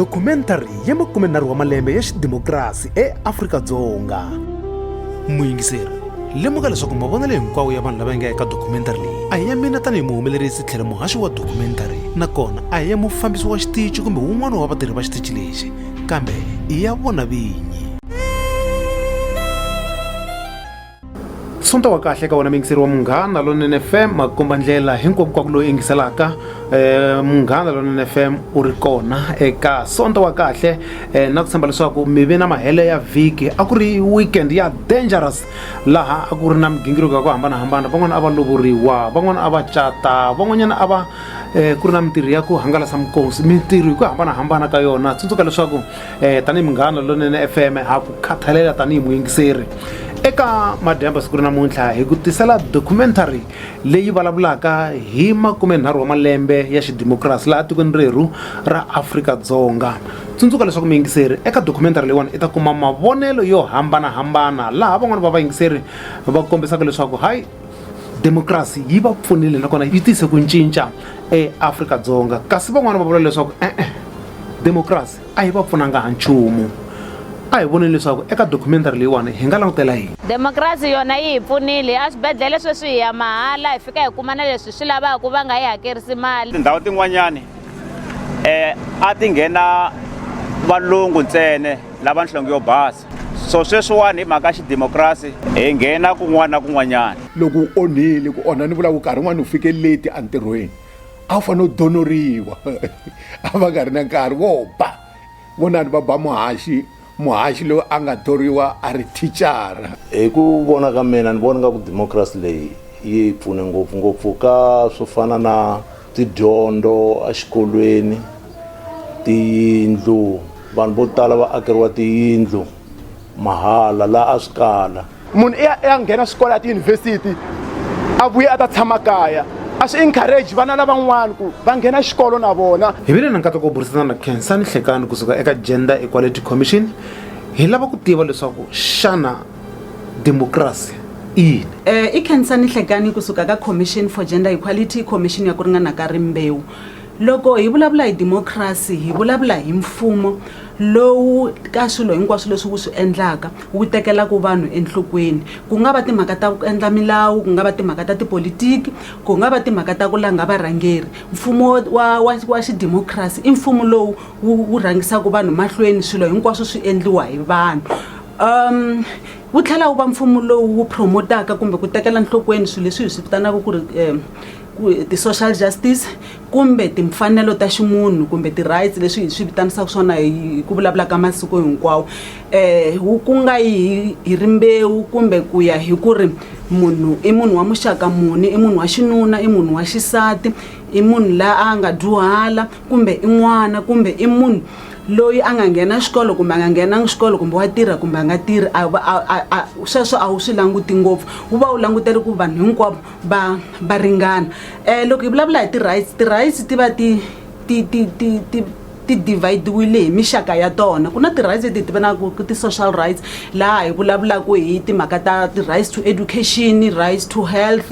dokumentari ya makumenharhu wa malembe ya xidemokirasi eafrika-dzonga muyingiseri lemuka leswaku mavonelo hinkwawo ya vanhu lava nga eka dokumentari leyi a hi ya mina tanihi muhumelerisi tlhela muhaxi wa dokumentari nakona a hi ya mufambisi wa xitici kumbe wun'wana wa vatirhi va xitici lexi kambe i ya vona vinyi sonta wa kahle ka wena muyingiseri wa munghana lonene fm makomba ndlela hinkwako kwaku loyi yingiselaka um munghana lonene fm u ri kona eka sonta wa kahle um na ku tshemba leswaku mi ve na mahele ya vhiki a ku ri weekend ya dangerous laha a ku ri na migingiriko ya ku hambanahambana van'wana a va lovoriwa van'wana a va cata van'wanyana a va um ku ri na mintirho ya ku hangalasa minkosi mintirho hi ku hambanahambana ka yona tsundzuka leswaku eh, tanihi munghana lonene fm ha ku khathalela tanihi muyingiseri eka madyamba siku ri namuntlha hi ku tisela documentary leyi vulavulaka hi makumenharhu wa malembe ya xidemokirasi laha tikweni rerhu ra afrika-dzonga tsundzuka leswaku muyingiseri eka documentary leyiwani i ta kuma mavonelo yo hambanahambana laha van'wani va vayingiseri va kombisaka leswaku hayi demokrasi yi va pfunile nakona yi tise ku cinca eAfrika-Dzonga kasi van'wana va vula leswaku e-e demokrasi a yi va pfunanga ha nchumu a hi voneni leswaku eka documentary leyiwani hi nga langutela yini demokrasi yona yi hi pfunile a swibedhlele sweswi hi ya mahala hi fika hi kuma na leswi swi lavaka va nga yi hakerisi mali tindhawu tin'wanyani um a ti nghena valungu ntsene lava nhlonge yo basa so sweswiwani hi mhaka xidemokirasi hi nghena kun'wana na kun'wanyana loko u onhile ku onha ni vulaku nkarhi un'wana u fike leti entirhweni a wu fanele u donoriwa a va nga ri na nkarhi vo ba vonani va ba muhaxi muhaxi loyi a nga thoriwa a ri thicara hi ku vona ka mina ni vona nga ku democracy leyi yi pfune ngopfungopfu ka swo fana na Tidyondzo exikolweni, tiyindlu, vanhu vo tala va akeriwa tiyindlu mahala laha a swi kala. Munhu i ya i ya nghena swikolo ya tiyunivhesiti a vuye a ta tshama kaya a swi encourage vana lavan'wana ku va nghena xikolo na vona. Hi vile na nkateko wo burisana na Khensani Nhlekani kusuka eka Gender Equality Commission. Hi lava ku tiva leswaku xana. democracy i yini um i khensa ni hlekani kusuka ka commission for gender equality commission ya ku ringana ka rimbewu loko hi vulavula hi democracy hi vulavula hi mfumo lowu ka swilo hinkwaswo leswi wu swi endlaka wu tekelaka vanhu enhlokweni ku nga va timhaka ta ku endla milawu ku nga va timhaka ta tipolitiki ku nga va timhaka ta ku langa varhangeri mfumo wa wa wa xidemokirasi i mfumo lowu wu wu rhangisaka vanhu mahlweni swilo hinkwaswo swi endliwa hi vanhu um wu tlhela wu va mfumo lowu wu promotaka kumbe ku tekela nhlokweni swilo leswi hi swi vitanaka ku ri um ti-social justice kumbe timfanelo ta ximunhu kumbe ti-rights leswi hi swi vitanisaka swona hi ku vulavulaka masiku hinkwawo um ku nga yi hi rimbewu kumbe ku ya hi ku ri munhu i munhu wa muxaka muni i munhu wa xinuna i munhu wa xisati i munhu la a nga dyuhala kumbe i n'wana kumbe i munhu loyi a nga nghena xikolo kumbe a nga nghenangi xikolo kumbe wa tirha kumbe a nga tirhi a a a sweswo a wu swi languti ngopfu wu va wu langutele ku vanhu hinkwavo va va ringana um loko hi vulavula hi ti-rights ti-rights ti va ti ti ti ti ti ti divide-wile hi mixaka ya tona ku na ti-rights leti hi ti vonaka ku ti-social rights laha hi vulavulaka hi timhaka ta ti-rights to education rights to health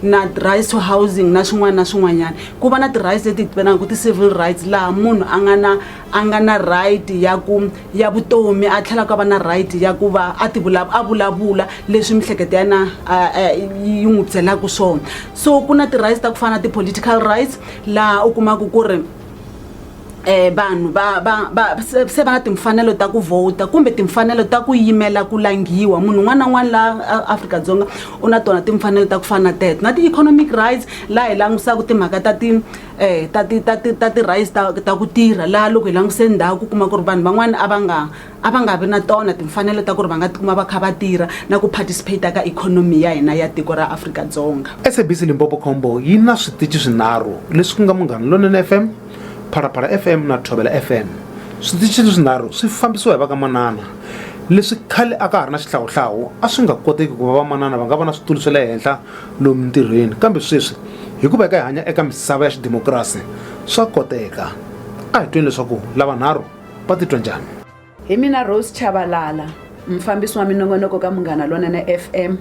na rights to housing na swin'wana na swin'wanyana ku va na ti-rights leti hi tivenaka ku ti-civil rights laha munhu a nga na a nga na right ya ku ya vutomi a tlhela ka va na right ya ku va a ti a vulavula leswi mihleketo ya na yi n'wi byelaka swona so ku na ti-rights ta ku fana na ti-political rights laha u kumaka ku ri eh vanhu va va va se se va na timfanelo ta ku vhota kumbe timfanelo ta ku yimela ku langhiwa munhu un'wana na un'wana laha Afrika-Dzonga u na tona timfanelo ta ku fana na teto na ti-economic rights laha hi langutisaka timhaka ta ti eh ta ti ta ti ta ti-rights ta ta ku tirha laha loko hi langutise ndhawu ku kuma ku ri vanhu van'wana a va nga a va nga vi na tona timfanelo ta ku ri va nga tikuma va kha va tirha na ku participate ka ikhonomi ya hina ya tiko ra Afrika-Dzonga SABC Limpopo Combo yi na switichi swinharhu leswi ku nga Munghana Lonene FM Phalaphala FM na Thobela FM switichi leswinharhu swi fambisiwa hi va ka manana leswi khale a ka ha ri na xihlawuhlawu a swi nga koteki ku va vamanana va nga va na switulu swa le henhla lomu ntirhweni kambe sweswi hikuva hi ka hi hanya eka misava ya xidemokirasi swa koteka a hi tweni leswaku lavanharhu va titwa njhani hi mina rose chavalala mufambisi wa minongonoko ka munghana lonene fm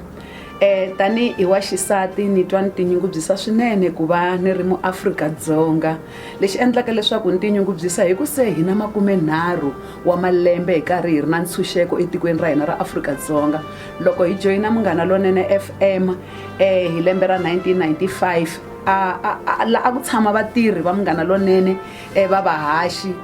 um tanihi wa xisati ni twa ni tinyungubyisa swinene ku va ni ri muafrika-dzonga lexi endlaka leswaku ni tinyungubyisa hi ku se hi na makumenharhu wa malembe hi karhi hi ri na ntshunxeko etikweni ra hina ra afrika-dzonga loko hi joyina munghana lonene fm um hi lembe ra 1995 a a a la a ku tshama vatirhi va munghana lonene um va vahaxi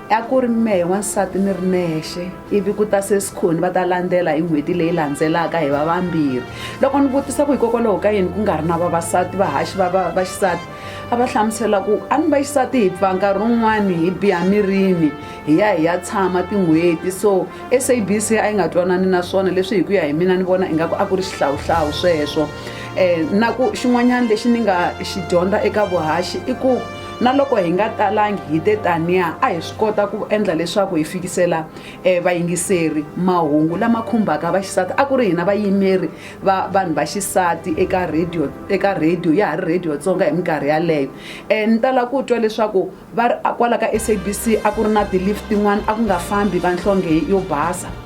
a ku ri mehe wansati ni ri nexe ivi ku ta sesikhoni va ta landzela hi n'hweti leyi landzelaka hi va vambirhi loko ni vutisa ku hikokwalaho ka yini ku nga ri na vavasati vahaxi va va va xisati a va hlamusela ku a ni va xisati hi pfa nkarhi wun'wani hi biha mirini hi ya hi ya tshama tin'hweti so sabc a yi nga twanani na swona leswi hi ku ya hi mina ni vona ingaku a ku ri xihlawuhlawu sweswo um na ku xin'wanyana lexi ni nga xi dyondza eka vuhaxi i ku na loko hi nga talangi hi te taniya a hi swi kota ku endla leswaku hi fikisela eh, vayingiseri mahungu lama khumbaka vaxisati a ku ri hina vayimeri va vanhu va xisati eka radio eka radio ya ha ri radio tsonga hi minkarhi yaleyo um ni tala ku twa leswaku va ri kwala ka sabc a ku ri na ti-lift tin'wana a ku nga fambi vanhlonge yo basa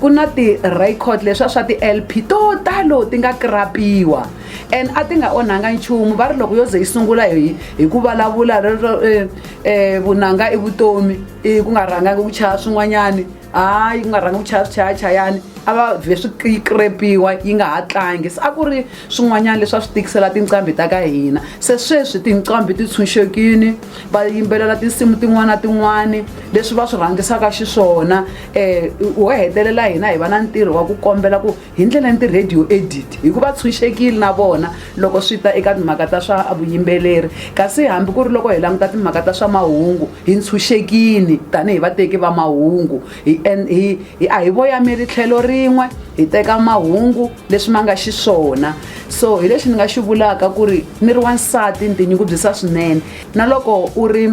ku na ti-record leswa swa ti-lp to talo ti nga krapiwa and a ti nga onhanga nchumu va ri loko yo ze yi sungula hi hi ku vulavula rero eh, eh, vunanga i vutomi i ku nga rhangangi ku chaya swin'wanyani hayi ku nga rhangi ku chaya swichayachayani a va vhe swi krepiwa yi nga ha tlangi se a ku ri swin'wanyana leswi a swi tikisela tinqambi ta ka hina se sweswi tinqambi ti tshunxekini va yimbelela tinsimu tin'wana na tin'wana leswi va swi rhangisaka xiswona um wo hetelela hina hi va na ntirho wa ku kombela ku hi ndlela ni ti-radio edit hikuva tshunxekile na vona loko swi ta eka timhaka ta swa vuyimbeleri kasi hambi ku ri loko hi languta timhaka ta swa mahungu hi ntshunxekile tanihi vateki va mahungu hi hi hi a hi voyameli tlhelo rin'we hi teka mahungu leswi ma nga xiswona so hi lexi ni nga xi vulaka ku ri ni ri wansati ni tinyungubyisa swinene na loko u ri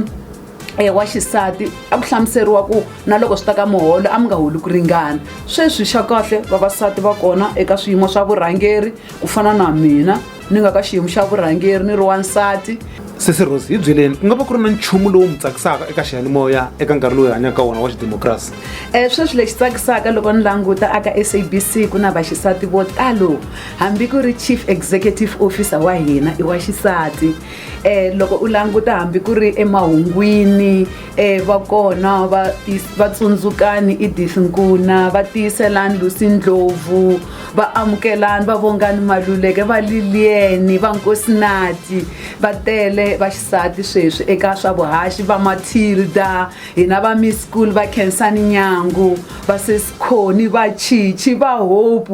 e wa xisati a ku hlamuseriwa ku na loko swi ta ka muholo a mi nga holi ku ringana sweswi xa kahle vavasati va kona eka swiyimo swa vurhangeri ku fana na mina ni nga ka xiyimo xa vurhangeri ni ri wansati sesi rose hi byeleni ku nga va ku ri na nchumu lowu mi tsakisaka eka xiyanimoya eka nkarhi lowu hi hanyaka wona wa xidemokirasi um sweswi lexi tsakisaka loko ni languta aka sabc ku na vaxisati vo talo hambi ku ri chief executive officer wa hina i wa xisati eh loko u languta hambi ku ri emahungwini eh va kona va va tsundzukani i disinkuna va tiyiselani lusi ndlovu va amukelani va vongani maluleke va liliyeni va nkosinati va tele va xisati sweswi eka swa vuhaxi va matilda hina va miss school va khensani nyangu va sesikhoni va chichi va hope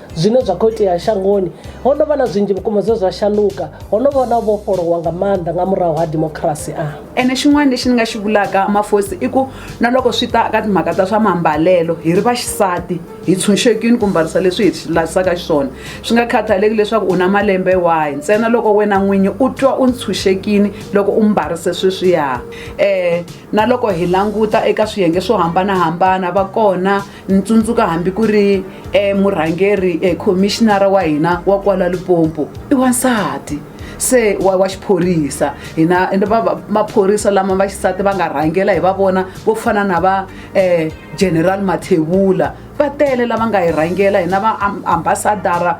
zwine zwa khou itea shangoni ho no vha na zwinzhi vhukuma zwe zwa shanduka ho no vha na vhofholowa nga maanḓa nga murahu ha demokirasi a ene xin'wana lexi ni nga xi vulaka mafosi i ku na loko swi ta ka timhaka ta swa mambalelo hi ri va xisati hi tshunxekini ku mbarisa leswi hi lavisaka xiswona swi nga khathaleki leswaku u na malembe wahi ntsena loko wena n'winyi u twa u ntshunxekini loko u mbarise sweswiya um na loko hi languta eka swiyenge swo hambanahambana va kona ni tsundzuka hambi ku ri eh, murhangeri eh, commissionara wa hina wa kwala lipompo i wansati se wa, wa xiphorisa hina ende va- va- maphorisa lama va xisati va nga rhangela hi va vona vo fana na va eh, general mathebula va tele lava nga hi rhangela hina va am- ambasadara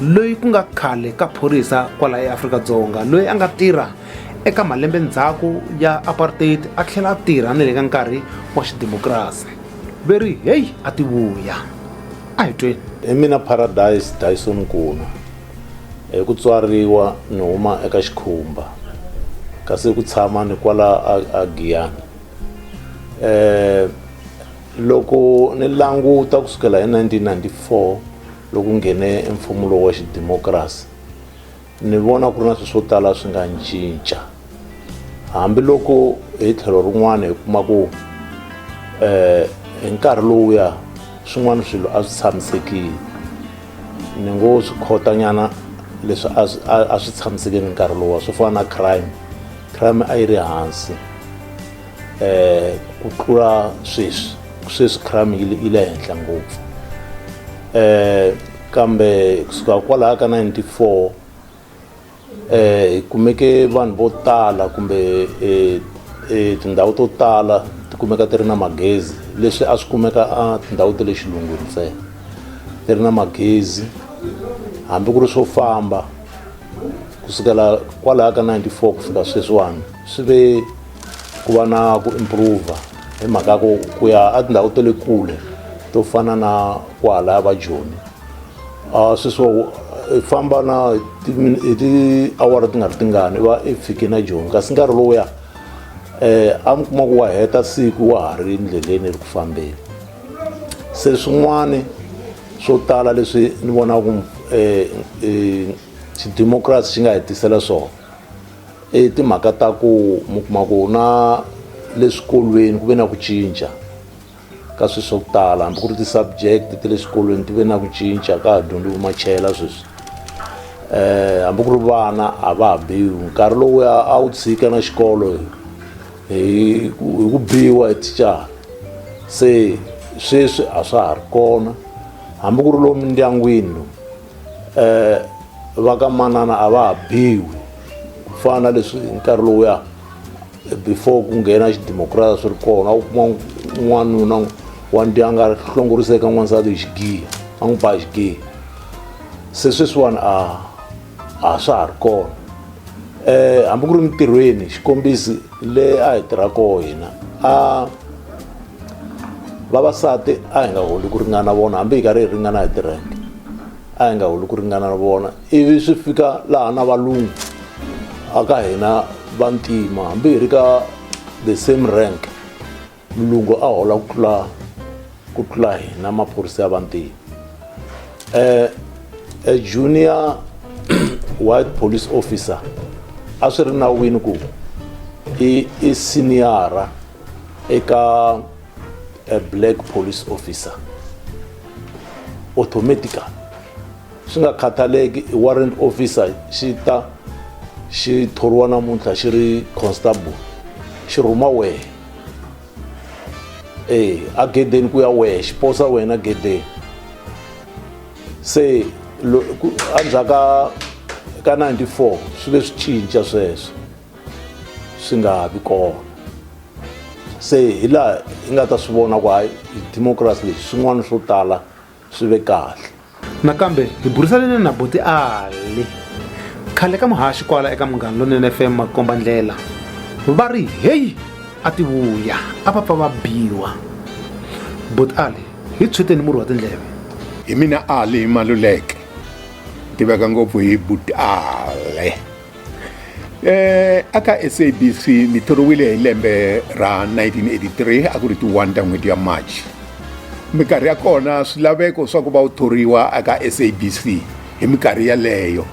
loyi ku nga khale ka phorisa kwala eAfrika-Dzonga loyi a nga tirha eka malembe ndzhaku ya apartheid a tlhela a tirha ni le ka nkarhi wa xidemokirasi ve ri heyi a ti vuya a hi tweni hi mina paradise dyson nkuna hi ku tswariwa ni huma eka xikhumba kasi ku tshama ni kwala a giyani um eh, loko ni languta ku sukela hi 1994 Loku nghene e mfumo lowu wa xidimokrasi, ni vona ku ri na swilo swo tala swi nga ncinca. Hambi loko hi tlhelo rin'wana hi kuma ku hi nkarhi lowuya swin'wana swilo a swi tshamisekile, ni ngo swi khotanyana leswi a swi a swi tshamisekile nkarhi lowuya swo fana na crime, crime a yi ri hansi. eh ku tlula sweswi sweswi crime yi yi le henhla ngopfu eh kambe kusuka kwalaha ka 94 eh hi kumeke vanhu vo tala kumbe eh, eh tindhawu to tala ti kumeka ti ri na magezi leswi a swi kumeka a tindhawu ta le xilungwini ntsena ti ri na magezi hambi ku ri swo famba kusukela kwalaha ka 94 ku fika sweswiwani swi ve ku va na ku improve hi mhaka ya ku ku ya a tindhawu ta le kule to fana na kwahalaya va joni a swi swo i famba na hi ti- hi tiawara ti nga ri tingani va i fike na joni kasi nkarhi lowuya eh a mi kuma ku wa heta siku wa ha ri endleleni ri ku fambeni se swin'wana swo tala leswi ni vonaku eh, eh, xidemokirasi xi nga hi tisela swona i timhaka ta ku mi kuma ku na le swikolweni ku ve na ku cinca ka swilo swa ku tala hambi ku ri ti-subject ti le swikolweni ti ve na ku cinca ka ha dyondzi vumachela sweswi um hambi ku ri vana a va ha biwi nkarhi lowuya a wu tshika na xikolo hi ku biwa hi tichara se sweswi a swa ha ri kona hambi ku ri lomu mindyangwini lomu um va ka manana a va ha biwi ku fana na leswi hi nkarhi lowuya before ku nghena xidemokirasi swi ri kona a wu kuma n'wanuna wa ndyanga a hlongoriseka n'wansati hi xigiya a n'wi ba xigiya se sweswiwani a a swa ha ri kona um hambi ku ri mintirhweni xikombiso le a hi tirha koho hina a vavasati a hi nga holi ku ringana na vona hambi hi karhi hi ringana hi tirhente a hi nga holi ku ringana na vona ivi swi fika laha na valungu a ka hina vantima hambi hi ri ka the same rank mulungu a hola ku tlula ku tlula hina maphorisa ya vantima um a junior white police officer a swi ri nawini ku i i siniyara eka a black police officer automatically swi nga khathaleki i warrant officer xi ta xi thoriwa namuntlha xi ri constable xi rhuma wehe ee a gedeni ku ya wehe xi posa wena gedeni se endzhaku ka ka 94 swi ve swi cinca sweswo swi nga ha vi kona se hi laha hi nga ta swi vona ku hayi democracy lexi swin'wana swo tala swi ve kahle nakambe hi burisanile na buti ali khale ka muhaxi kwala eka munghana lonene fm makomba ndlela va ri heyi a ti vuya a va pfa va biwa buti ali hi tshweteni murhi wa tindleve hi mina ali hi maluleke tiveka ngopfu hi buti ali Eh, aka sabc ni thoriwile hi lembe ra 1983 a ku ri ti 1 ta n'hweti ya march minkarhi ya kona swilaveko swa ku va u thoriwa aka sabc hi minkarhi yaleyo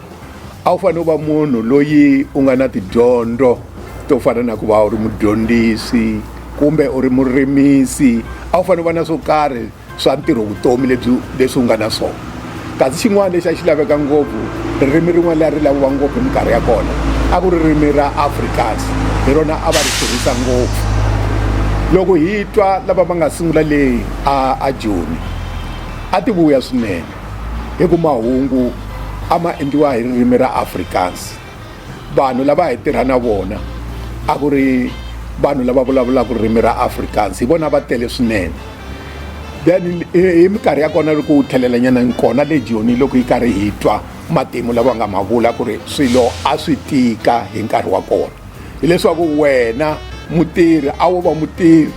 a wu fanele u va munhu loyi u nga na tidyondzo to fana na ku va u ri mudyondzisi kumbe u ri murimisi a wu fanele u va na swo karhi swa ntirho vutomi lebyi leswi u nga na swona kasi xin'wana lexi a xi laveka ngopfu ririmi rin'wana leri ri laviwa ngopfu hi minkarhi ya kona a ku ririmi ra afrikaans hi rona a va ri tirhisa ngopfu loko hi twa lava va nga sungula leyi a a joni a ti vuya swinene hi ku mahungu a ma endliwa hi ririmi ra afrikaans vanhu lava hi tirha na vona a ku ri vanhu lava vulavulaka ririmi ra afrikaans hi vona va tele swinene then hi minkarhi ya kona loko wu thelelanyana kona le joni loko yi karhi hi twa matimu lava nga ma vula ku ri swilo a swi tika hi nkarhi wa kona hileswaku wena mutirhi a wo va mutirhi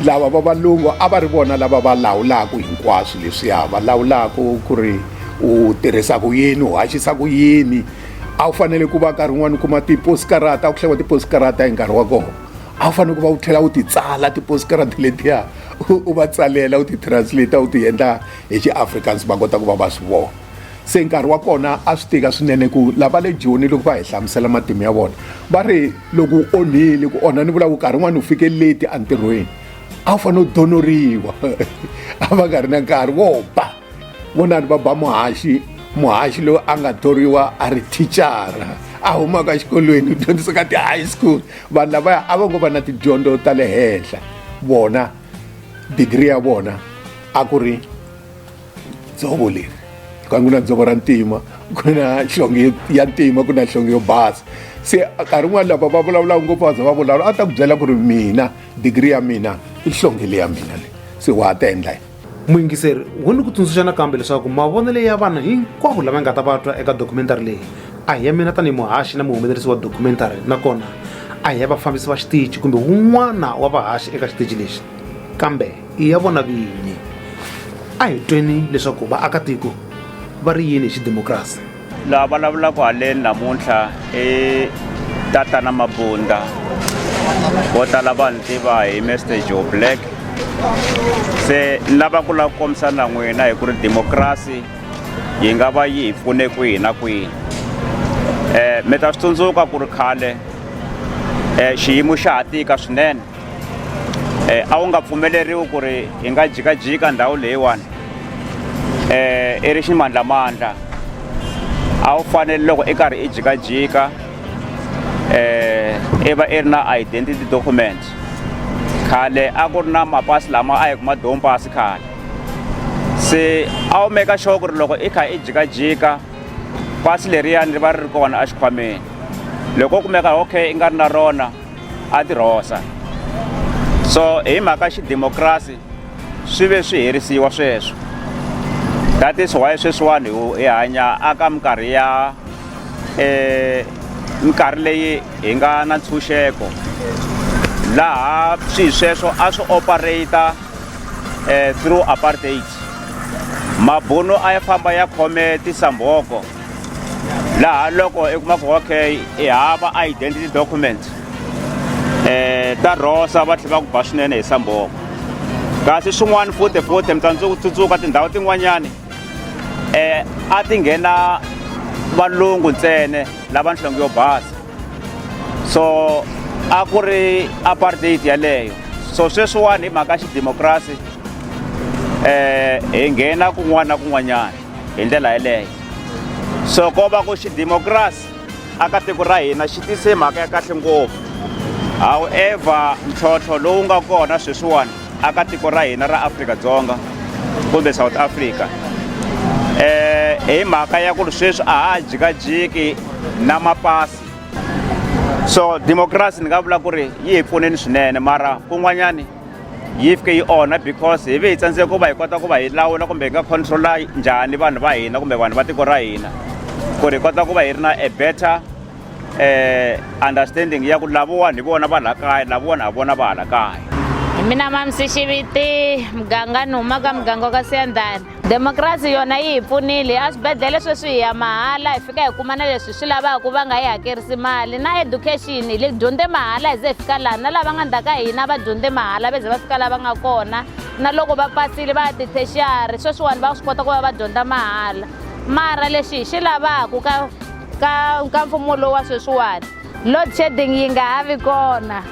lava va valungu a va ri vona lava va lawulaka hinkwaswo leswiya va lawulaka ku ri u tirhisa ku yini u haxisa ku yini a wu fanele ku va nkarhi wun'wani u kuma tiposikarata a ku hlayiwa tiposikarata hi nkarhi wa kona a wu fanele ku va u tlhela u ti tsala tiposikarata letiya u va tsalela u ti translate u ti endla hi xiafrikaans va kota ku va va swi vona se nkarhi wa kona a swi tika swinene ku lava le joni loko va hi hlamusela matimu ya vona va ri loko u onhile ku onha ni vula ku nkarhi un'wana u fike leti entirhweni a wu fanele u donoriwa a va nga ri na nkarhi vo ba vonani va ba muhaxi muhaxi loyi a nga thoriwa a ri thicara a humaka exikolweni u dyondzisa ka ti-high school vanhu lavaya a va ngo va na tidyondzo ta le henhla vona digiri ya vona a ku ri dzovo leri ku a ku na dzovo ra ntima ku na nhlonge ya ntima ku na nhlonge yo basa se nkarhi un'wana lava va vulavulaka ngopfu va za va vulavula a ta ku byela ku ri mina digiri ya mina i nhlonge leyi ya mina leyi se wa ha ta endla yini muyingiseri wo ni ku tsundzuxa nakambe leswaku mavonelo ya vanhu hinkwavo lama nga ta va twa eka documentary leyi a hi ya mina tanihi muhaxi na muhumelerisi wa documentary nakona a hi ya vafambisi va xitichi kumbe wun'wana wa vahaxi eka xitichi lexi kambe i ya vona vinyi a hi tweni leswaku vaakatiko va ri yini hi xidemokirasi laha vulavulaka haleni namuntlha i tatana mabunda vo tala va ni tiva hi mester joe black se ni lava ku lava ku kombisa na n'wina hi ku ri demokrasi yi nga va yi hi pfune kwihi na kwihi um mi ta swi tsundzuka ku ri khale um xiyimo xa ha tika swinene eh, a wu nga pfumeleriwi ku ri hi nga jikajika ndhawu leyiwani eh, i ri ximandlamandla a wu fanele loko i karhi i jikajika eh, i va i ri na identity document khale a ku ri na mapasi lama a hi kuma domu pasi khale se a wu meka sure ku ri loko i kha i jikajika pasi leriyani ri va ri ri kona exikhwameni loko u kumeka okay i nga ri na rona a ti rhosa so hi mhaka xidemokirasi swi ve swi herisiwa sweswo that is why sweswiwani hi hanya aka minkarhi ya um minkarhi leyi hi nga na ntshunxeko laha swihi sweswo a swi operata um through apartheid mabuno a ya famba ya khome tisambhoko laha loko i kuma ku okay i hava identity document eh ta rosa va tlhela va ku ba swinene hi samboko kasi swin'wana futhi futhi mi tsandzeka ku tsutsuka tindhawu tin'wanyani eh a ti nghena valungu ntsene lava nhlonge yo basa so a ku ri apartheid yaleyo so sweswiwani hi mhaka xidemokirasi um eh, hi nghena kun'wana na kun'wanyana hi ndlela yeleyo so ko va ku xidemokirasi aka tiko ra hina xi tise mhaka ya kahle ngopfu however ntlhontlho lowu nga kona sweswiwani aka tiko ra hina ra afrika-dzonga kumbe south africa eh hi mhaka ya ku ri sweswi a ha jikajiki na mapasi so democracy ni nga vula ku ri yi hi pfuneni swinene mara kun'wanyani yi fike yi onha because hi ve hi tsandzeka ku va hi kota ku va hi lawula kumbe hi nga controla njhani vanhu va hina kumbe vanhu va tiko ra hina ku ri hi kota ku va hi ri na a better eh understanding ya ku lavowani hi vona va la kaya lavowani ha vona va hala kaya hi mina mamsi xiviti muganga ni humaka muganga wa ka siyandhani demokrasi yona yi hi pfunile eswibedhlele sweswi hi ya mahala hi fika hi kuma na leswi swi lavaka va nga yi hakerisi mali na education hi le dyondze mahala hi ze hi fika laha na lava nga ndzhaka hina va dyondze mahala va ze va fika lava nga kona na loko va pasile va ya tithexiyari sweswiwani va swi kota ku va va dyondza mahala mara lexi hi xi lavaka ka ka ka mfumo lowu wa sweswiwani load shedding yi nga ha vi kona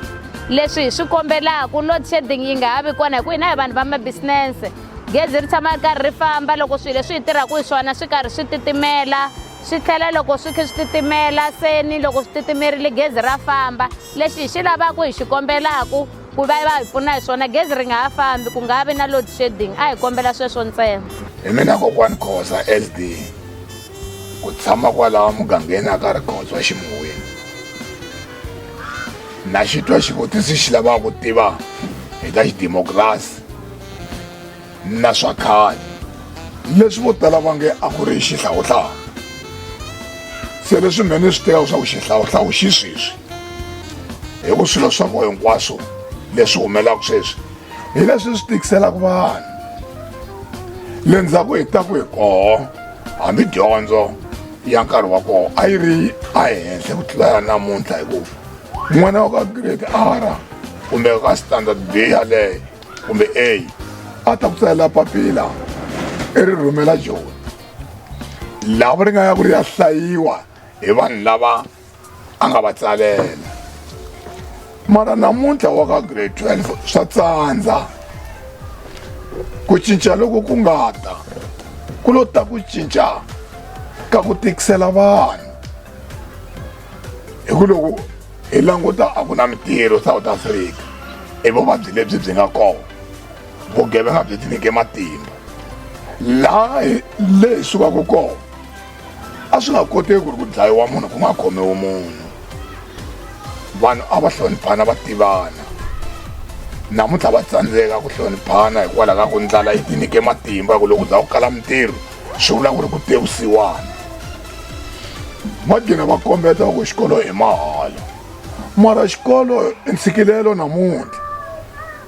leswi hi swi kombelaka load shedding yi nga ha vi kona hi ku hina hi vanhu va mabisinese gezi ri tshama ri karhi ri famba loko swilo leswi hi tirhaka hi swona swi karhi swi titimela swi tlhela loko swi kha swi titimela se ni loko swi titimerile gezi ra famba lexi hi xi lavaka hi xi kombelaka ku va va hi pfuna hi swona gezi ri nga ha fambi ku nga vi na load shedding a hi kombela sweswo ntsena hi mina kokwani khosa sd ku tshama kwalawa mugangeni a ka ri khotswa ximoyeni na xitwa xivutiso xi lavaka ku tiva hi ta xidemokirasi na swa khale leswi vo tala va nge a ku ri xihlawuhlawu se leswi mhene swi tiva leswaku xihlawuhlawu xi sweswi hi ku swilo swa ko hinkwaswo leswi humelaka sweswi hi leswi swi tikiselaka vanhu le ndzhaku hi ta ku hi koho hambi dyondzo ya nkarhi wa koho a yi ri ehenhla ku tlula ya namuntlha hikuva n'wana wa ka grade r kumbe ka standard b yaleyo kumbe a a ta ku tsalela papila i ri rhumela joni lava ri nga ya ku ri ya hlayiwa hi vanhu lava a nga va tsalela mara namuntlha wa ka grade 12 swa tsandza ku cinca loko ku nga ta ku lo ta ku cinca ka ku tikisela vanhu hi ku loko hi languta a ku na mitirho south africa i vuvabyi lebyi byi nga kona vugevenga byi tinike matimba laha leyi sukaka kona a swi nga koteki ku ri ku dlayiwa munhu ku nga khomiwi munhu vanhu a va hloniphana va tivana namuntlha va tsandzeka ku hloniphana hikwalaho ka ku ndlala yi tinike matimba ku loko u za ku kala mitirho swi vula ku ri ku tewusiwana va gina va kombeta ku xikolo hi mahala mara xikolo i ntshikilelo namuntlha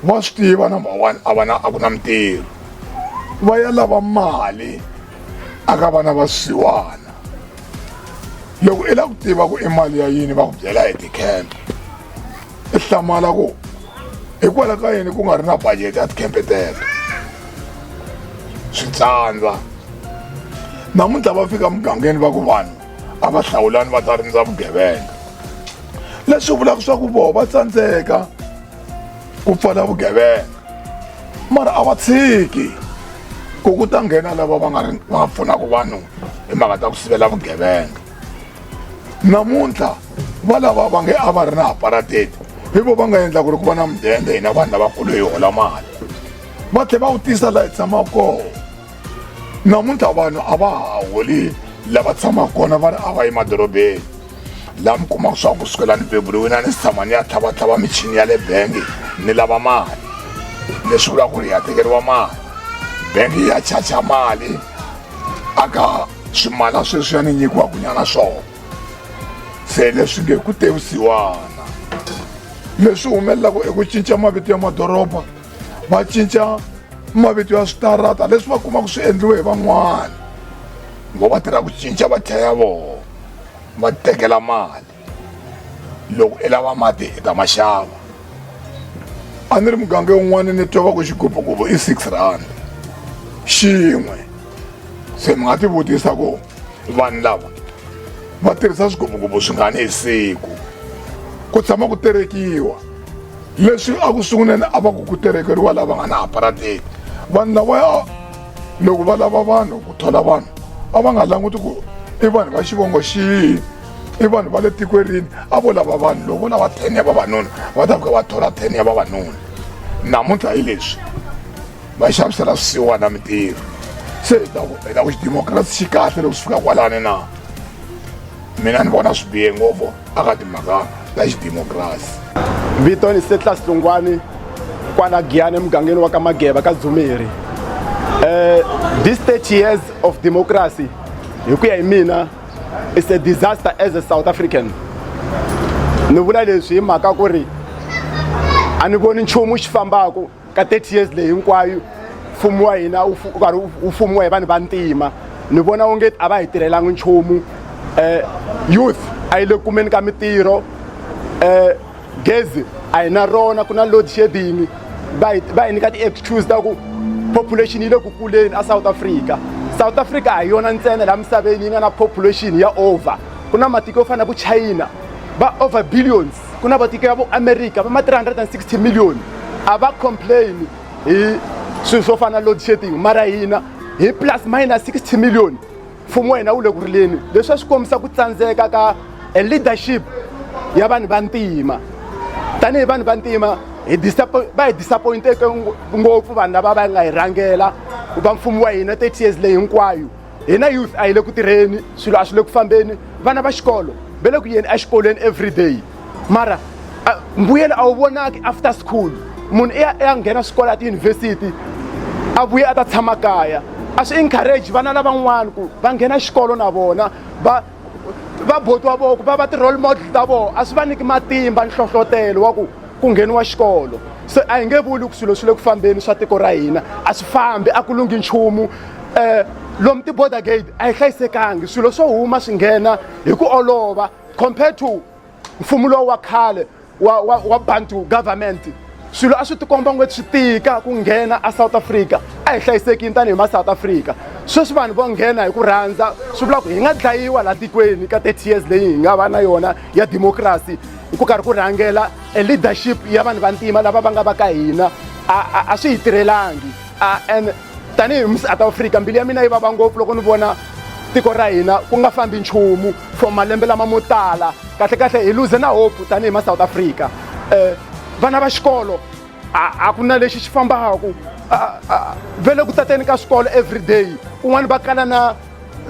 va swi tiva number one a vana a ku na mintirho va ya lava mali aka vana va swisiwana loko i lava ku tiva ku i mali ya yini va ku byela hi ti-camp i hlamala ku hikwalaho ka yini ku nga ri na budget ya tikhempe teto swi tsandza namuntlha va fika mugangeni va ku vanhu a va hlawulani va ta rindza vugevenga leswi vulaka swa ku voho va tsandzeka ku pfala vugevenga mara a va tshiki ku ku ta nghena lava va nga ri va pfunaka vanhu hi mhaka ta ku sivela vugevenga namuntlha va lava va nge a va ri na aparateti hi vo va nga endla ku ri ku va na mudende hina vanhu lavakulu hi hola mali va tlhe va wu tisa laha hi tshama kona namuntlha vanhu a va ha holi lava tshamaka kona va ri a va emadorobeni laha mi kumaka swa ku sukela ni beburiwini a ni si tshama ni ya tlhavatlhava michini ya le bengi ni lava mali leswi vulaka ku ri hi ya tekeriwa mali bengi ya chacha mali aka Swimala sweswiya ni nyikiwa kunyana swona se leswi nge ku tevisiwana leswi humelelaka eku cinca mavito ya madoroba va cinca mavito ya switarata leswi va kumaka swi endliwe hi van'wana ngo va tirha ku cinca va tlhela vona va tekela mali loko i lava mati i ta ma xava a ni ri muganga yin'wana ni twa va ku xigubugubhu i six rand xin'we se mi nga ti vutisa ku vanhu lava va tirhisa swigubugubhu swi nga ni hi siku ku tshama ku terekiwa leswi a ku sunguleni a va ku ku terekeriwa lava nga na aparateki vanhu lava loko va lava vanhu ku thola vanhu a va nga languti ku i vanhu va xivongo xihi i vanhu va le tikwerini a vo lava vanhu loko vo lava ten ya vavanuna va ta fika va thola ten ya vavanuna namuntlha hi leswi va xavisela swisiwana mintirho se hi ta ku hi ta ku xidemokirasi xi kahle loko swi fika kwalani na mina ni vona swi bihe ngopfu aka timhaka ta xidemokirasi vito ni setlas lungwani kwala giyani emugangeni wa ka mageba ka dzumeri um this 30 years of democracy hi ku ya hi mina it's a disaster as a south african ni vula leswi hi mhaka ku ri a ni voni nchumu xi fambaka ka 30 years leyi hinkwayo mfumo wa hina wu karhi wu fumiwa hi vanhu va ntima ni vona onge a va hi tirhelanga nchumu um youth a yi le kumeni ka mintirho um gezi a hi na rona ku na load shedding va hi va hi nyika ti-excuse ta ku population yi le ku kuleni asouth africa south africa a hi yona ntsena laha misaveni yi nga na population ya over ku na matiko yo fana na vo china va over billions ku na vatiko ya vo america va ma 360 million a va complain hi swilo swo fana na load shedding mara hina hi plus minus 60 million mfumo wa hina wu le ku rileni leswi a swi kombisa ku tsandzeka ka a leadership ya vanhu va ntima tanihi vanhu va ntima hi va hi disappointeke ngopfu vanhu lava va nga hi rhangela va mfumo wa hina 30 years leyi hinkwayo hina youth a hi le ku tirheni swilo a swi le ku fambeni vana va xikolo va le ku yeni exikolweni every day mara mbuyelo a wu vonaki after school munhu i ya i ya nghena swikolo ya tiyunivhesiti a vuye a ta tshama kaya a swi encourage vana lavan'wana ku va nghena xikolo na vona va va botiwa voko va va ti-role model ta vona a swi va niki matimba nhlohlotelo wa ku ku ngheniwa xikolo se a hi nge vuli ku swilo swi le ku fambeni swa tiko ra hina a swi fambi a ku lunghi nchumu um lomu ti-border gate a yi hlayisekangi swilo swo huma swi nghena hi ku olova compared to mfumo lowu wa khale wa, wa, wa bantu government swilo a swi tikomba ngweti swi tika ku nghena a south africa a hi hlayisekini tanihi ma south africa sweswi vanhu vo nghena hi ku rhandza swi vula ku hi nga dlayiwa laha tikweni ka 30 years leyi hi nga va na yona ya democracy hi ku karhi ku rhangela e leadership ya vanhu vantima lava va nga va ka hina a swi hi tirhelangi and tanihi musouth africa mbilu ya mina yi vava ngopfu loko ni vona tiko ra hina ku nga fambi nchumu for malembe lama mo tala kahlekahle hi luze na hope tanihi ma south africa um vana va xikolo a ku na lexi xi fambaka vele ku tateni ka swikolo every day kun'wana va kala na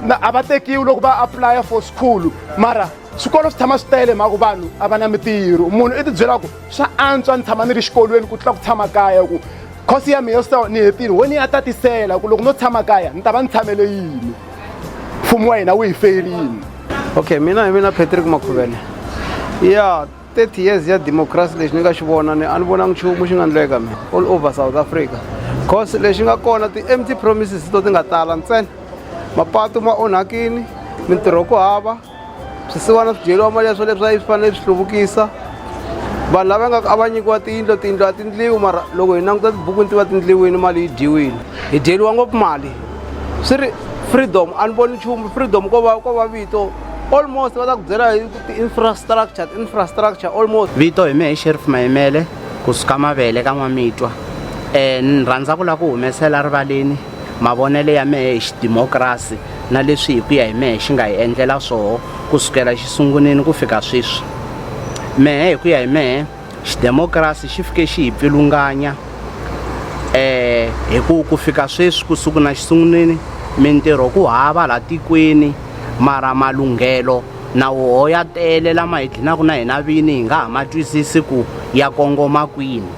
na a va tekiwi loko va apulaya for school mara swikolo swi tshama swi tele hi mhaka ku vanhu a va na mitirho munhu i tibyela ku swa antswa ni tshama ni ri xikolweni ku tlula ku tshama kaya ku khosi ya mina so ni hetile ho ni ya tatisela ku loko no tshama kaya ni ta va ni tshamele yini mfumo wa hina wu hi ferini okay mina hi mina patrick makhuvele ya 30 years ya democracy lexi ni nga xi vona ni a ni vonangi nchumu xi nga ni leka mina all over south africa cause lexi nga kona ti-empty promises to ti nga tala ntsena mapatu ma onhakini mintirho ku hava swisiwana swi dyeriwa mali ya swo leswi a yi swi fanele swi hluvukisa vanhu lava nga a va nyikiwa tiyindlo tiyindlo a tindliwi mara loko hi languta tibuku ni tiva tindliwini mali yi dyiwile hi dyeriwa ngopfu mali swi ri freedom a ni voni nchumu freedom ko va ko va vito almost va ta ku byela hi ti-infrastructure ti-infrastructure almost vito hi mehe sheriff mayimele kusuka mavele ka n'wamitwa um ni rhandza ku lava ku humesela rivaleni mavonelo ya mehe hi xidimokirasi na leswi hi ku ya hi mehe xi nga hi endlela swoho ku sukela xi sungunini ku fika sweswi mehe hi ku ya hi mehe xidemokirasi xi fike xi hi pfilunganya eh hi ku ku fika sweswi ku suku na xisungunini mintirho ku hava la tikweni mara malunghelo na woho ya tele lama hi dlinaka na hina vini hi nga ha ma twisisi ku ya kongoma kwini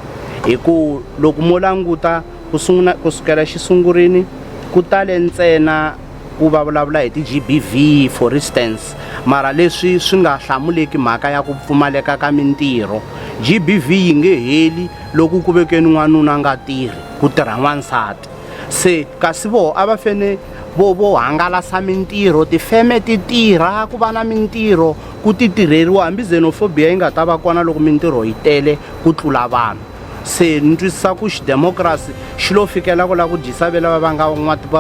hi ku loko mo languta Ku sungula ku sukela xisungurini ku tale ntsena ku va vulavula hi ti-GBV for instance mara leswi swi nga hlamuleki mhaka ya ku pfumaleka ka mintirho GBV yi nge heli loko ku vekeni n'wanuna nga tirhi ku tirha n'wansati se kasi voho a va fene vo vo hangalasa mintirho tifeme ti tirha ku va na mintirho ku ti tirheriwa hambi xenophobia yi nga ta va kona loko mintirho yi tele ku tlula vanhu se ni twisisa ku xidemokirasi xi lo fikela ku lava ku dyisa ve lava va nga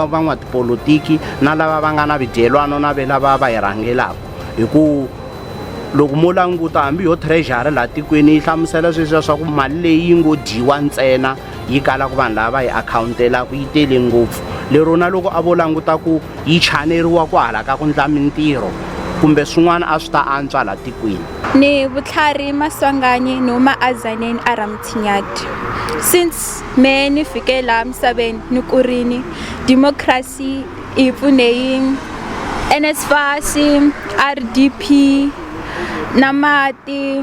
van'watipolotiki na lava va nga na vidyelwano na ve lava va hi rhangelaka hi ku loko mo languta hambi yo treasury laha tikweni yi hlamusela sweswiya swa ku mali leyi yi ngo dyiwa ntsena yi kala ku vanhu lava va yi akhawuntelaka yi tele ngopfu lero na loko a vo languta ku yi chaneriwa ku hala ka ku ndla mintirho kumbe swin'wana a swi ta antswa laha tikweni ni vutlhari maswanganyi no maazaneni a Ramuthinyati. Since me ni fike laha misaveni ni kurini, democracy hi pfune hi NSFAS, RDP, na mati,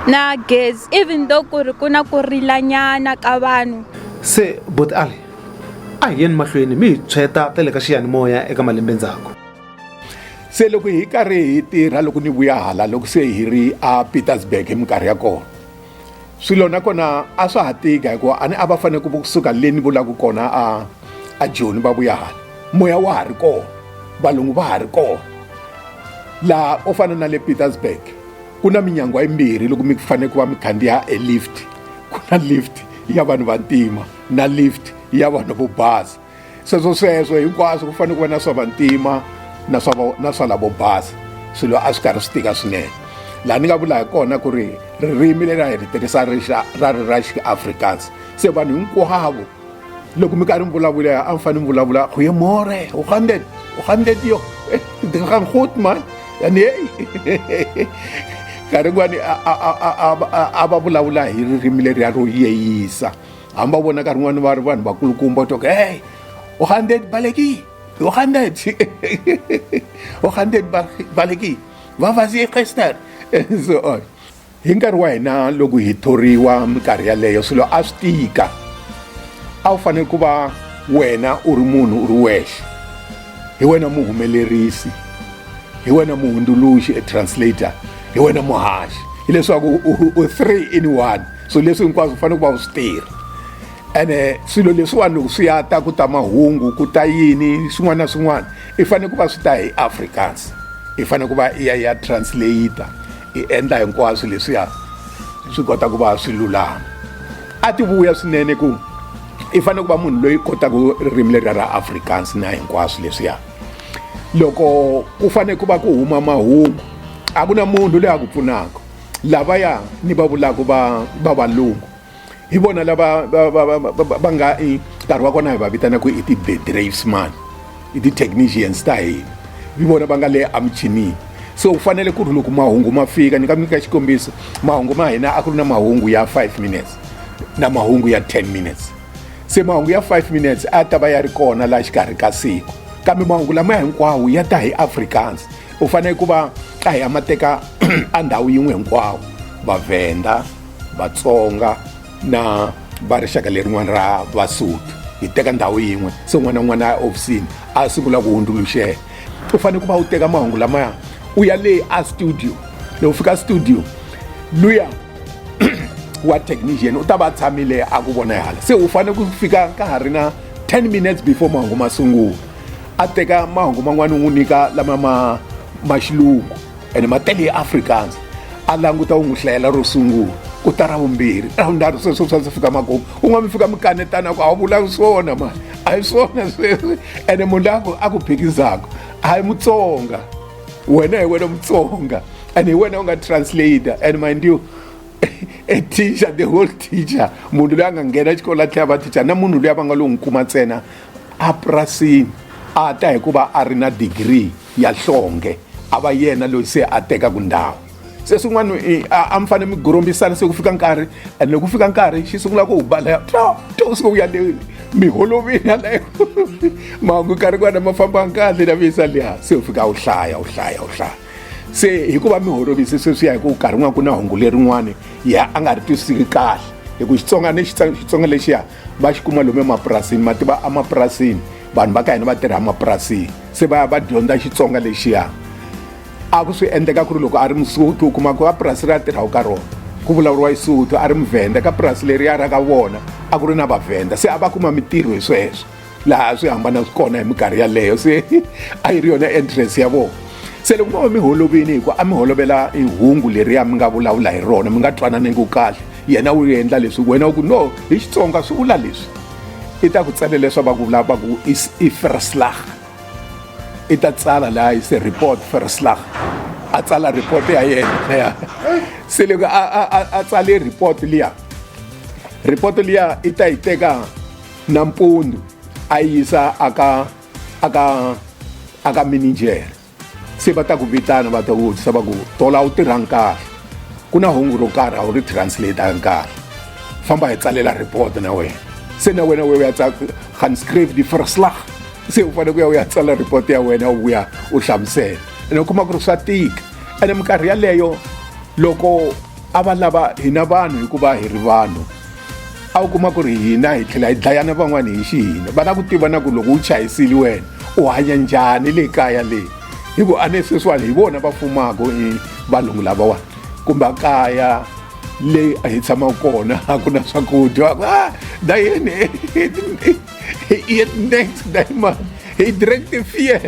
na gezi, even though ku ri ku na ku rilanyana ka vanhu. Se Buti Ali, a hi yeni mahlweni mi hi tshweta ta le ka xiyanimoya eka malembe ndzhaku. se loko hi karhi hi tirha loko ni vuya hala loko se hi ri a petersburg hi minkarhi ya kona swilo nakona a swa ha tika hikuva a ni a va fanele ku kusuka le ni vulaka kona a a joni va vuya hala moya wa ha ri kona valungu va ha ri kona laha u fana na le petersburg ku na minyangwa yimbirhi loko mi fanele ku va mi khandziya e lift ku na lift ya vanhu vantima na lift ya vanhu vo basa sweswo sweswo hinkwaswo ku fanele ku va na swa vantima na swa na swa lavo basa swilo a swi karhi swi tika swinene laha ni nga vula hi kona ku ri ririmi leri a hi ri tirhisa rixa ra ri ra xiafrikaans se vanhu hinkwavo loko mi karhi mi vulavula a mi fanele mi vulavula goye more u gandet u gandet yo eh, ndi nga gang goed man yani hey nkarhi kun'wani a va vulavula hi ririmi leriya ro yeyisa hamba vona nkarhi n'wana va ri vanhu vakulukumba u toka hey u hundred baleki u hundred u hundred baleki va vasi eqester and so on hi nkarhi wa hina loko hi thoriwa minkarhi yaleyo swilo a swi tika a wu fanele ku va wena u ri munhu u ri wexe hi wena muhumelerisi hi wena muhundzuluxi e translator hi wena muhaxi hileswaku u three in one swilo leswi hinkwaswo fanele ku va u swi tirha ene swilo leswiwani loko swi ya ta ku ta mahungu ku ta yini swin'wana na swin'wana i fanele ku va swi ta hi africans i fanele ku va i ya ya translator i endla hinkwaswo leswiya swi kota ku va swi lulama a ti vuya swinene ku i fanele ku va munhu loyi kotaka ririmi leriya ra africans na hinkwaswo leswiya loko ku fanele ku va ku huma mahungu a ku na munhu loyi a ku pfunaka lavaya ni va vulaka va va valungu hi vona lava va nga i nkarhi wa kona hi va vitanaka i ti-bedravesman i ti-technicians ta hina hi vona va nga le emuchinini so u fanele ku ri loko mahungu ma fika ni nga mi nyika xikombiso mahungu ma hina a ku ri na mahungu ya 5 minutes na mahungu ya 10 minutes se mahungu ya 5 minutes a ta va ya ri kona laha xikarhi ka siku kambe mahungu lama hinkwawo ya ta hi afrikaans u fanele ku va ka hi amateka a ndhawu yin'we hinkwawo vavhenda vatsonga na va rixaka lerin'wana ra vasotho hi teka ndhawu yin'we se un'wana na un'wana a ehofisini a sungula ku hundzuluxela u fanele ku va u teka mahungu lamaya u ya le a studio loko fika studio luya wa technician u ta va tshamile a ku vona hala se u fanele ku fika ka ha ri na 10 minutes before mahungu ma sungula a teka mahungu man'wana u n'wi nyika lama ma ma xilungu ene ma tele ya africans a languta u n'wi hlayela ro sungula ku ta ra vumbirhi ra vunharhu sweswo swa ndzi fika makumu un'wana mi fika mi kanetana ku a wu vulangi swona mani a hi swona sweswi ene munhu la ku a ku phikizaka a hi mutsonga wena hi wena mutsonga and hi wena u nga translator and mind you a teacher the whole teacher munhu loyi a nga nghena xikolo a tlhela va teacher na munhu loyi a va nga lo n'wi kuma ntsena epurasini a ta hi ku va a ri na digiri ya nhlonge a va yena loyi se a tekaka ndhawu se swin'wana a mi fanele mi gorombisana se ku fika nkarhi and loko ku fika nkarhi xi sungula ku balaya to to u suka u ya le mi holovini yaleyo mahungu nkarhi kwana ma fambanga kahle na visa liya se u fika u hlaya u hlaya u hlaya se hikuva mi holovise sweswiya hi ku nkarhi n'wana ku na hungu lerin'wani ya a nga ri twisisiki kahle hi ku xitsonga ni xitsonga lexiya va xi kuma lomu emapurasini ma tiva emapurasini vanhu va ka hina va tirha emapurasini se va ya va dyondza xitsonga lexiya a ku swi endleka ku ri loko a ri musuthu u kuma ku a purasi ri ya tirhaku ka rona ku vulavuriwa xisuthu a ri muvhenda ka purasi leriya ra ka vona a ku ri na vavhenda se a va kuma mintirho hi sweswo laha swi hambana swi kona hi minkarhi yaleyo se a yi ri yona entrance ya vona se loko mo va mi holovini hikuva a mi holovela hi hungu leriya mi nga vulavula hi rona mi nga twananeni ku kahle yena u endla leswi wena u ku no hi xitsonga swi vula leswi i ta ku tsale leswa va ku vula va ku i ferslag i ta tsala laha i se report ferslag a tsala report ya yena ya se loko a tsale report liya report liya i ta yi teka nampundzu a yi yisa aka aka aka mininjere se va ta ku vitana va ta ku vutisa va ku tola wu tirhanga kahle ku na hungu ro karhi a wu ri translate-angi kahle famba hi tsalela report na wena se na wena we u ya gaan skryf die verslag se u fanele ku ya u ya tsala report ya wena u vuya u hlamusela ene u kuma ku ri swa tika ene minkarhi yaleyo loko a va lava hina vanhu hikuva hi ri vanhu a wu kuma ku ri hina hi tlhela hi dlayana van'wana hi xihina va lava ku tiva na ku loko u chayisile wena u hanya njhani le kaya leyi hi ku a ne sweswiwani hi vona va fumaka i valungu lavawani kumbe kaya leyi a hi tshamaka kona a ku na swakudya a dayeni Hij eet niks, nee man. Hij drinkt de vier.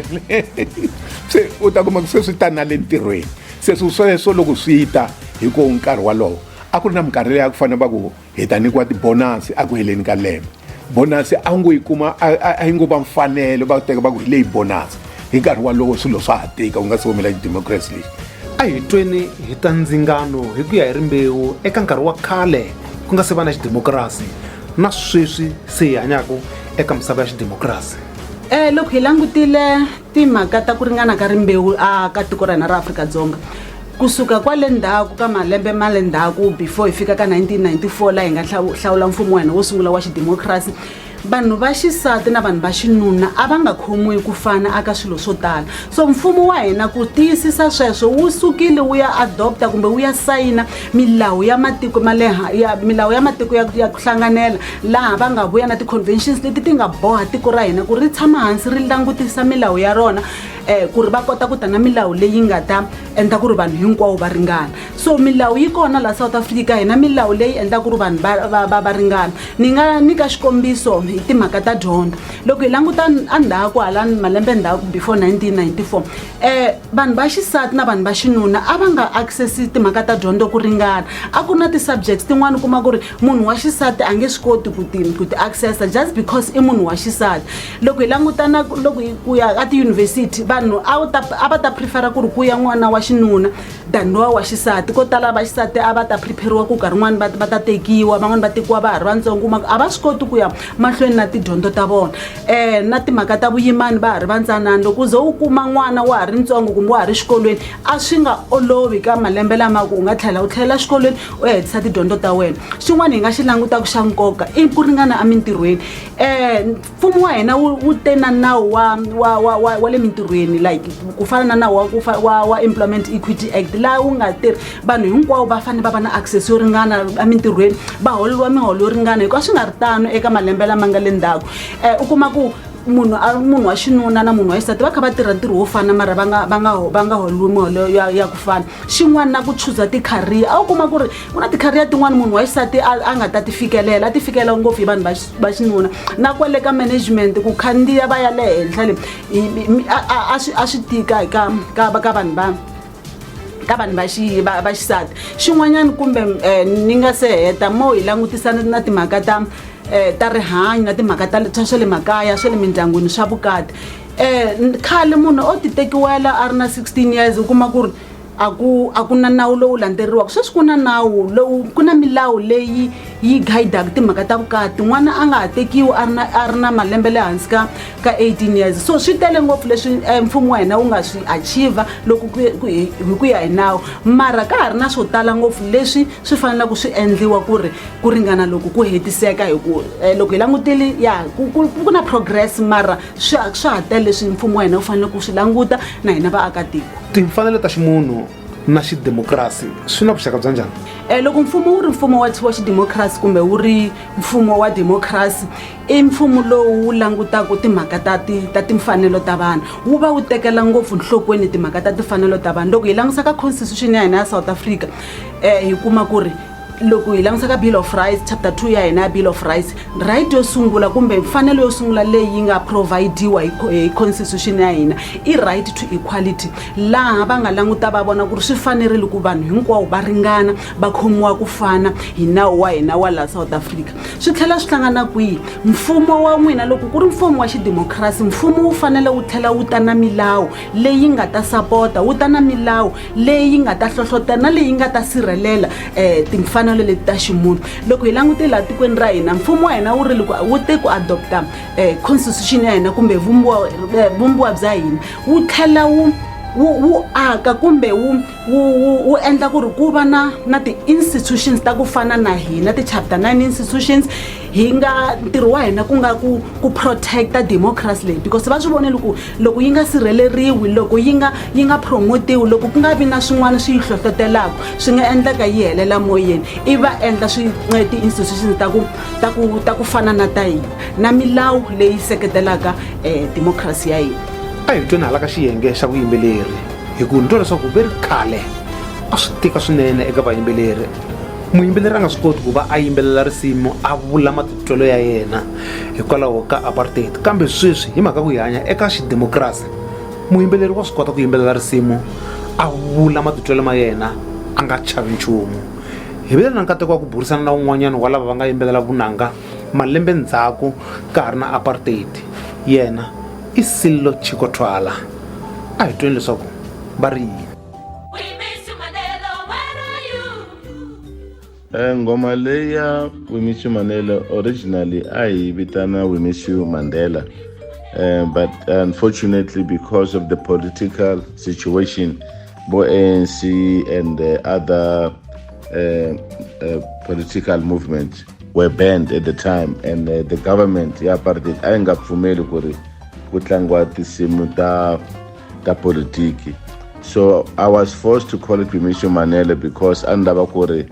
Se u ta kuma ku sweswi ta na le ntirhweni. Se swi sweswo loko swi ta hi ku nkarhi walowo a ku ri na minkarhi leyi a ku fanele va ku hi ta nyikiwa tibonasi a ku heleni ka lembe bonasi a ngo yi kuma a yi ngo va mfanelo va teka va ku hi leyi bonasi hi nkarhi walowo swilo swa ha tika u nga si humela xidemokirasi lexi a hi tweni hi ta ndzingano hi ku ya hi rimbewu eka nkarhi wa khale ku nga se va na xidemokirasi na sweswi se hi hanyaka eka misava ya xidemokirasi um loko hi langutile timhaka ta ku ringana ka rimbewu a ka tiko ra hina ra afrika-dzonga kusuka kwale ndzhaku ka malembe ma le ndzhaku before hi fika ka 1994 laha hi nga hlawula mfumo wa hina wo sungula wa xidemokirasi vanhu va xisati na vanhu va xinuna a va nga khomiwi ku fana aka swilo swo tala so mfumo wa hina ku tiyisisa sweswo wu sukile wu ya adopta kumbe wu ya sayina milawu ya matiko ma le ya milawu ya matiko ya ya ku hlanganela laha va nga vuya na ti-conventions leti ti nga boha tiko ra hina ku ri tshama hansi ri langutisa milawu ya rona um ku ri va kota ku ta na milawu leyi nga ta endla ku ri vanhu hinkwawo va ringana so milawu yi kona laha south africa hina milawu leyi endla ku ri vanhu va va ringana ni nga nyika xikombiso hi timhaka ta dyondzo loko hi languta a ndhaku hala malembe ndhaku before 1994 um vanhu va xisati na vanhu va xinuna a va nga access timhaka ta dyondzo ku ringana a ku na ti-subjects tin'wani u kuma ku ri munhu wa xisati a nge swi koti ku ti ku ti accessa just because i munhu wa xisati loko hi langutana loko hi ku ya ka tiyunivhesiti vanhu a wu ta a va ta prefera ku ri ku ya n'wana wa xinuna than lowa wa xisati ko tala va xisati a va ta prepare-iwa ku nkarhi n'wana va va ta tekiwa van'wani va tekiwa va ha ri vatsongo kuma ku a va swi koti ku ya mahlweni na tidyondzo ta vona um na timhaka ta vuyimani va ha ri vantsanana loko u ze u kuma n'wana wa ha ri ntsongo kumbe wa ha ri xikolweni a swi nga olovi ka malembe lama ku u nga tlhela u tlhelela xikolweni u ya hetisa tidyondzo ta wena xin'wana hi nga xi langutaka xa nkoka i ku ringana emintirhweni um mfumo wa hina wu te na nawu wa wa wa wa wa le mintirhweni like ku fana na nawu wa wa wa employment equity act laha wu nga tirhi vanhu hinkwavo va fanele va va na access yo ringana emintirhweni va holeriwa miholo yo ringana hikuva swi nga ri tano eka malembe lama nga le ndzhaku um u kuma ku munhu munhu wa xinuna na munhu wa xisati va kha va tirha ntirho wo fana mara va nga va nga va nga holiwi miholo ya ya ku fana xin'wana na ku chuza ti-career a wu kuma ku ri ku na ti-career tin'wana munhu wa xisati a a nga ta ti fikelela a ti fikelela ngopfu hi vanhu va xinuna na kwale ka management ku khandziya va ya le henhla le a swi tika ka ka ka vanhu vanhu ka vanhu va xi- va va xisati xin'wanyana kumbe eh, ni nga se heta mo hi langutisana na timhaka ta eh, ta rihanyo na timhaka ta ta swa le makaya swa le mindyangwini swa vukati um khale munhu o ti tekiwela a ri na 16 years u kuma ku ri a ku a ku na nawu lowu landzeriwaka sweswi ku na nawu lowu ku na milawu leyi yi guidaka timhaka ta vukati n'wana a nga ha tekiwi a ri na a ri na malembe le hansi ka ka 18 years so swi tele ngopfu leswi eh, mfumo wa hina wu nga swi achiva loko hi ku ya hi nawu mara ka ha ri na swo tala ngopfu leswi swi fanelaka swi endliwa ku ri ku ringana loko ku hetiseka hi ku eh, loko hi langutile ya ku na progress mara swa ha tele leswi mfumo wa hina wu faneleke ku swi languta na hina vaakatiko timfanelo ta ximunhu na xidemokirasi swi na vuxaka bya njhani um loko mfumo wu ri mfumo wa wa xidemokirasi kumbe wu ri mfumo wa demokirasi i mfumo lowu wu langutaka timhaka ta ti ta timfanelo ta vanhu wu va wu tekela ngopfu nhlokweni timhaka ta timfanelo ta vanhu loko hi langutisa ka constitution ya hina ya south africa um hi kuma ku ri loko hi langutisa ka bill of rights chapter 2 ya hina ya bill of rights right yo sungula kumbe mfanelo yo sungula leyi nga providiwa hi constitution ya hina i right to equality laha va nga languta va vona ku ri swi fanerile ku vanhu hinkwavo va ringana va khomiwa ku fana hi nawu wa hina wa laha south africa swi tlhela swi hlangana kwihi mfumo wa n'wina loko ku ri mfumo wa xidemokirasi mfumo wu fanele wu tlhela wu ta na milawu leyi nga ta sapota wu ta na milawu leyi nga ta hlohlotela na leyi nga ta sirhelela um timfanelo leti ta ximunhu loko hi langute laha tikweni ra hina mfumo wa hina wu ri loko wu te ku adopta um constitution ya hina kumbe vumbiwa eh, vumbiwa bya hina wu tlhela wu wu aka kumbe wu endla ku ri ku va na na ti-institutions ta ku fana na hina ti-chapter nine institutions hi nga ntirho wa hina ku nga ku ku protect-a democracy leyi because va swi vonele ku loko yi nga sirheleriwi loko yi nga yi nga promotiwi loko ku nga vi na swin'wana swi yi hlohlotelaka swi nga endleka yi helela moyeni i va endla swi ti-institution ta ku ta ku ta ku fana na ta hina na milawu leyi seketelaka um democracy ya hina a hi tweni hala ka xiyenge xa vuyimbeleri hi ku ni twa leswaku ve ri khale a swi tika swinene eka vayimbeleri muyimbeleri a nga swi koti ku va a yimbelela risimu a vula matitwelo ya yena hikwalaho ka apartheid kambe sweswi hi mhaka ku hi hanya eka xidemokirasi muyimbeleri wa swi kota ku yimbelela risimu a vula matitwelo ma yena a nga chavi nchumu hi vile na nkateko wa ku burisana na un'wanyana wa lava va nga yimbelela vunanga malembe ndzhaku ka ha ri na apartheid yena i sillo chikothwala a hi tweni leswaku va ri yini Eh, ngoma leyi ya wimisu mandela originally a hi vitana wimisu mandela uh, but unfortunately because of the political situation bo anc and the other uh, uh, political movement were banned at the time and uh, the government ya apartheid a yi nga pfumeli ku ri ku tlangiwa tinsimu ta ta politiki so i was forced to call it pimisho manele because a ni lava ku ri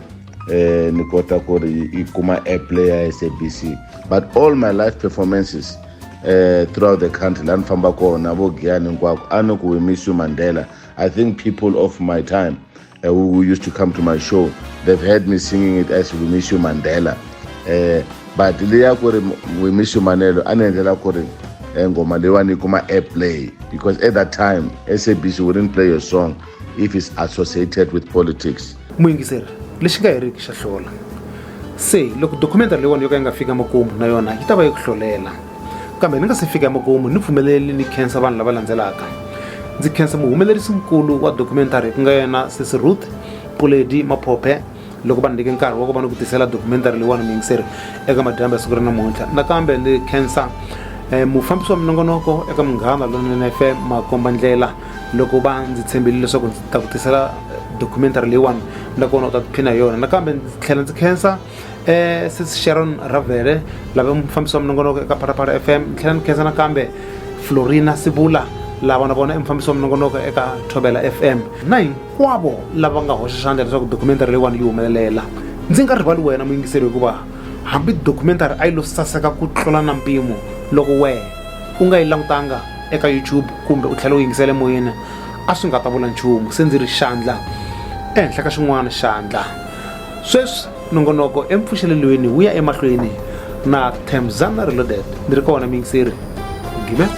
eh, ni kota ku ri yi kuma airplay ya sabc but all my life performances eh, throughout the country la ni famba kona vo giyani hinkwako a ni ku hi misu mandela i think people of my time uh, who, who, used to come to my show, they've heard me singing it as We Miss You Mandela. Uh, but leya ku We Miss You Manelo a ni endlela ku ri eh, ngoma leyiwani yi kuma airplay because at that time sabc wouldn't play your song if it's associated with politics muyingiseri lexi nga heriki xa hlola se loko documentary leyiwani yo ka yi nga fika makumu na yona yi ta va yi ku hlolela kambe ni nga se fika emakumu ni pfumeleli ni khensa vanhu lava landzelaka ndzi khensa muhumelerisi nkulu wa documentary ku nga yena sesi ruth puledi maphophe loko va ni nyike nkarhi wa ku va ni ku tisela documentary leyiwani miyingiseri eka madyambe ya siku ri namuntlha nakambe ni khensa um mufambisi wa minongonoko eka munghana lonene f m makomba ndlela loko va ndzi tshembile leswaku ndzi ta ku tisela documentary leyiwani nakona u ta tiphina hi yona nakambe ndzi tlhela ndzi khensa um sesi sharon ravele lava mufambisi wa minongonoko eka phalaphala f m tlhela ni khensa nakambe florina sibula lava na vona i mufambisi wa minongonoko eka thobela f m na hinkwavo lava nga hoxa xandla leswaku documentary leyiwani yi humelelela ndzi nga rivali wena muyingiseri hikuva hambi documentary a yi lo saseka ku tlula na mpimo loko wehe u nga yi langutanga eka youtube kumbe u tlhela u yingisele moyeni a swi nga ta vula nchumu se ndzi ri xandla ehenhla ka xin'wana xandla Sweswi nongonoko empfuxelelweni wu ya emahlweni na Themzana Reloaded. Ni ri kona muyingiseri Gimela.